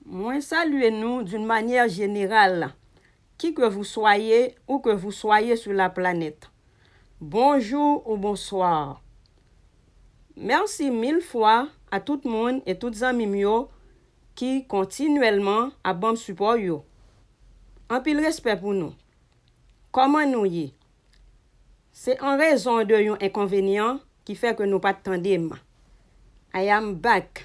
Mwen salye nou d'une manière générale qui que vous soyez ou que vous soyez sur la planète. Bonjour ou bonsoir. Merci mille fois a tout moun e tout zanmi m yo ki kontinuèlman ap ban m sipò yo. Anpil respè pou nou. Kòman nou ye? Se an rezon de yon enkonvenyan ki fè ke nou pat tande m. I am back.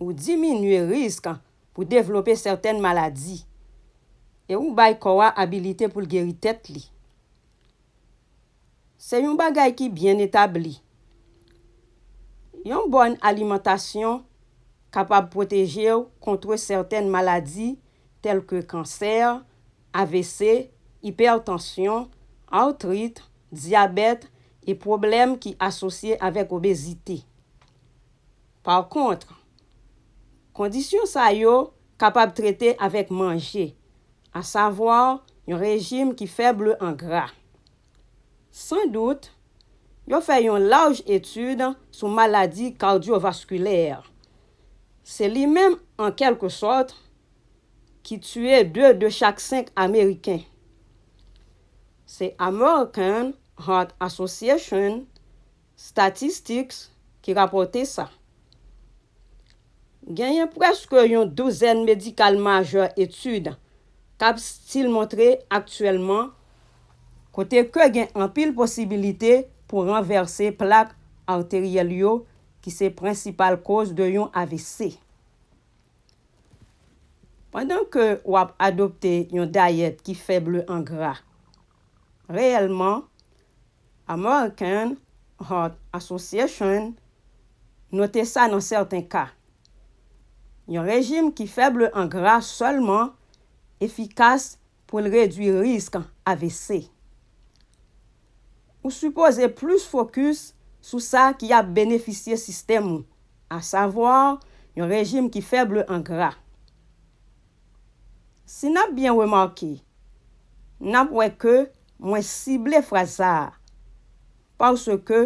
ou diminye risk pou devlope sèten maladi e ou bay kò a abilite pou l geri tèt li. Se yon bagay ki byen etabli. Yon bòn alimantasyon kapab pwoteje w kontre sèten maladi tèlke kansè, avc, ipètansyon, artrit, dyabèt e pwoblèm ki asosye avèk obezite. Pa kont, kondisyon sa yo kapab trete avèk manje, asavwa yon rejim ki fèble an gra. San dout, yo fè yon laj etid sou maladi kardyovaskilè. Se li menm, an kèlke sòt, ki tiye 2 de chak 5 Ameriken. Se American Heart Association Statistics ki rapòte sa. Genyen prèske yon douzèn medikal majè etid k ap stil montre aktyèlman kote ke gen anpil posibilite pou ranvèse plak arteryèl yo ki se prensipal koz de yon avc. Pandan ke w ap adopte yon dayèt ki fèble an gra, reyèlman American Heart Association note sa nan sèten ka, yon rejim ki fèble an gra sèlman efikas pou l redui risk avc. Ou sipoze plis fokis sou sa ki ap benefisye sistèm ou, asavwa yon rejim ki fèble an gra. Si n ap byen remake, n ap wè ke Mwen sible fraz sa a paske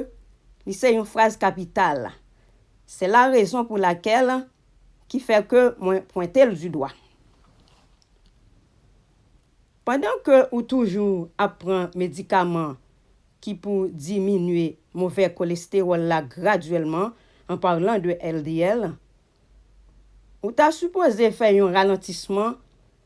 li se yon fraz kapital. Se la rezon pou lakèl ki fè ke mwen pwente l di dwa. Pandan ke ou toujou ap pran medikaman ki pou diminye move kolestewòl la gradyèlman, an parlan de LDL, ou ta sipoze fè yon ralantisman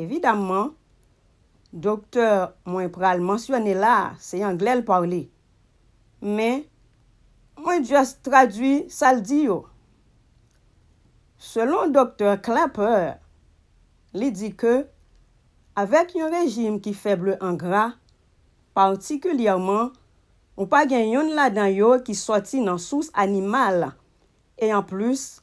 Evidamman, doktè mwen pral mansyone la a, se anglè l parle. Men, mwen just tradui sa l di yo. Selon doktè Klaper, li di ke avèk yon rejim ki fèble an gra, patikilyèman ou pa gen youn ladan yo ki sòti nan sous animal, e anplis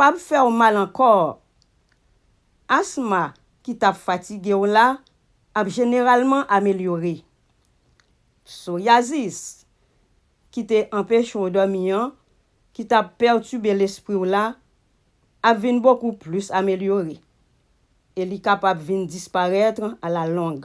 Pap fè w mal ankò. Asma ki t ap fatige w la ap jeneralman amelyore. Soryazis ki te anpeche w dòmi an, ki t ap pètibe lespri w la, ap vin bokou plis amelyore e li kapab vin disparèt alalong.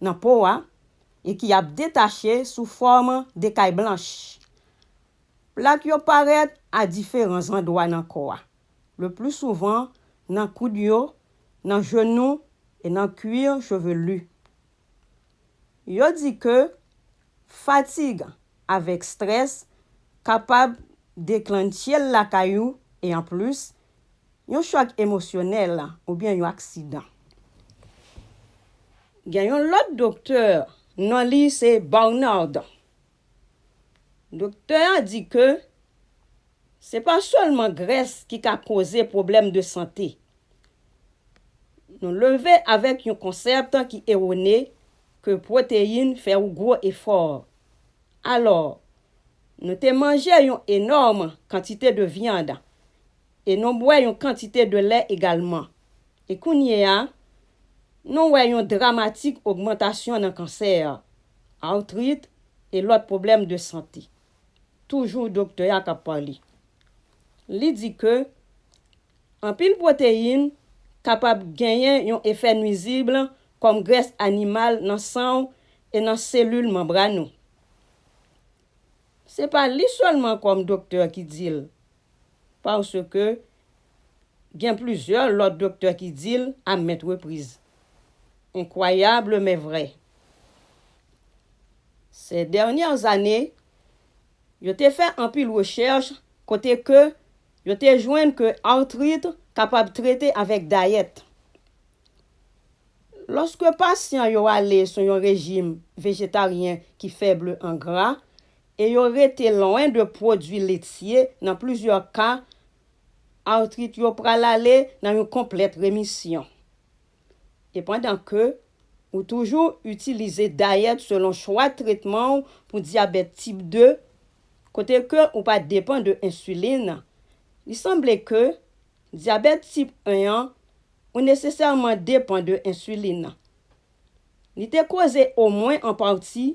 nan po a e ki ap detache sou fòm de kay blanch. Plak yo parèt a diferan zandwa nan kò a, leplisouvan nan koud yo, nan jenou e nan cuir chevelu. Yo di ke fatig avèk strès kapab deklannche l lakay ou e anplis Yon chòk emosyonèl oubyen yon aksidan. Gen yon lòt doktè. Non li se Barnard. Doktè a di ke se pa sèlman grès ki ka koze pwoblèm de sante. Nou leve avèk yon konsèpt ki ewone ke pwoteyin fè ou gwo efò. Alò, nou te manje yon enòm kantite de vyand e nou bwè yon kantite de lè egalman. E kounyea, nou wè yon dramatik ogmantasyon nan kansè, artrit e lòt pwoblèm de sante. Toujou doktè a k ap pale. Li di ke anpil pwoteyin kapab genyen yon efè nwizib kòm grès animal nan san w e nan selil manbràn ou. Se pa li sèlman kòm doktè ki di l, paske gen plizyè lòt doktè ki di l a mèt repriz. Enkwayabl men vrè. Sè dènyè zane, yo te fè anpil rechèch kote ke yo te jwenn ke artrit kapab trete avèk dayèt. Lòske pasyan yo ale sou yon rejim vejetaryen ki fèbl an gra, e yo rete lwen de pwodui letye, nan plizyè ka, artrit yo pral ale nan yon konplèt remisyon. E pandan ke ou toujou itilize dayèt selon chwa tretman ou pou dyabèt tip 2, kote ke ou pa depan de ensilin, li sanble ke dyabèt tip 1 an ou nesesèman depan de ensilin. Li te koze omwen an pati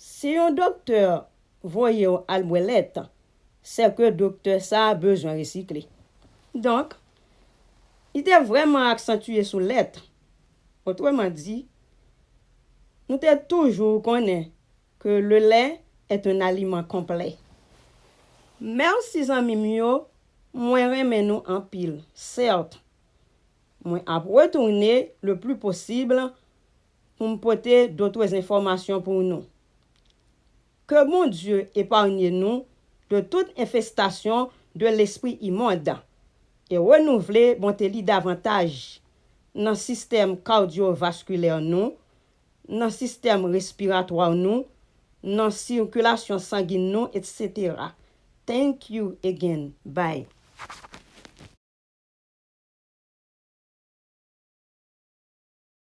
Si yon doktè voye w al bwè lèt, sè ke doktè sa a bezwen resikle. Donk, li te vrèman aksantye sou lèt. Otreman di, nou te toujou konnen ke le lè est un aliment complet. Mèsi zanmi m yo, mwen renmen nou anpil. Cert, mwen ap retounen le plus possible pou m pote dotres enfòmasyon pou nou. Ke Bondye eparnye nou de tout enfestasyon de lespri imond e renouvle bonte li davantaj nan sistèm kardyovaskilè nou, nan sistèm respiratwa nou, nan sikilasyon sangin nou etc. Thank you again. Bye.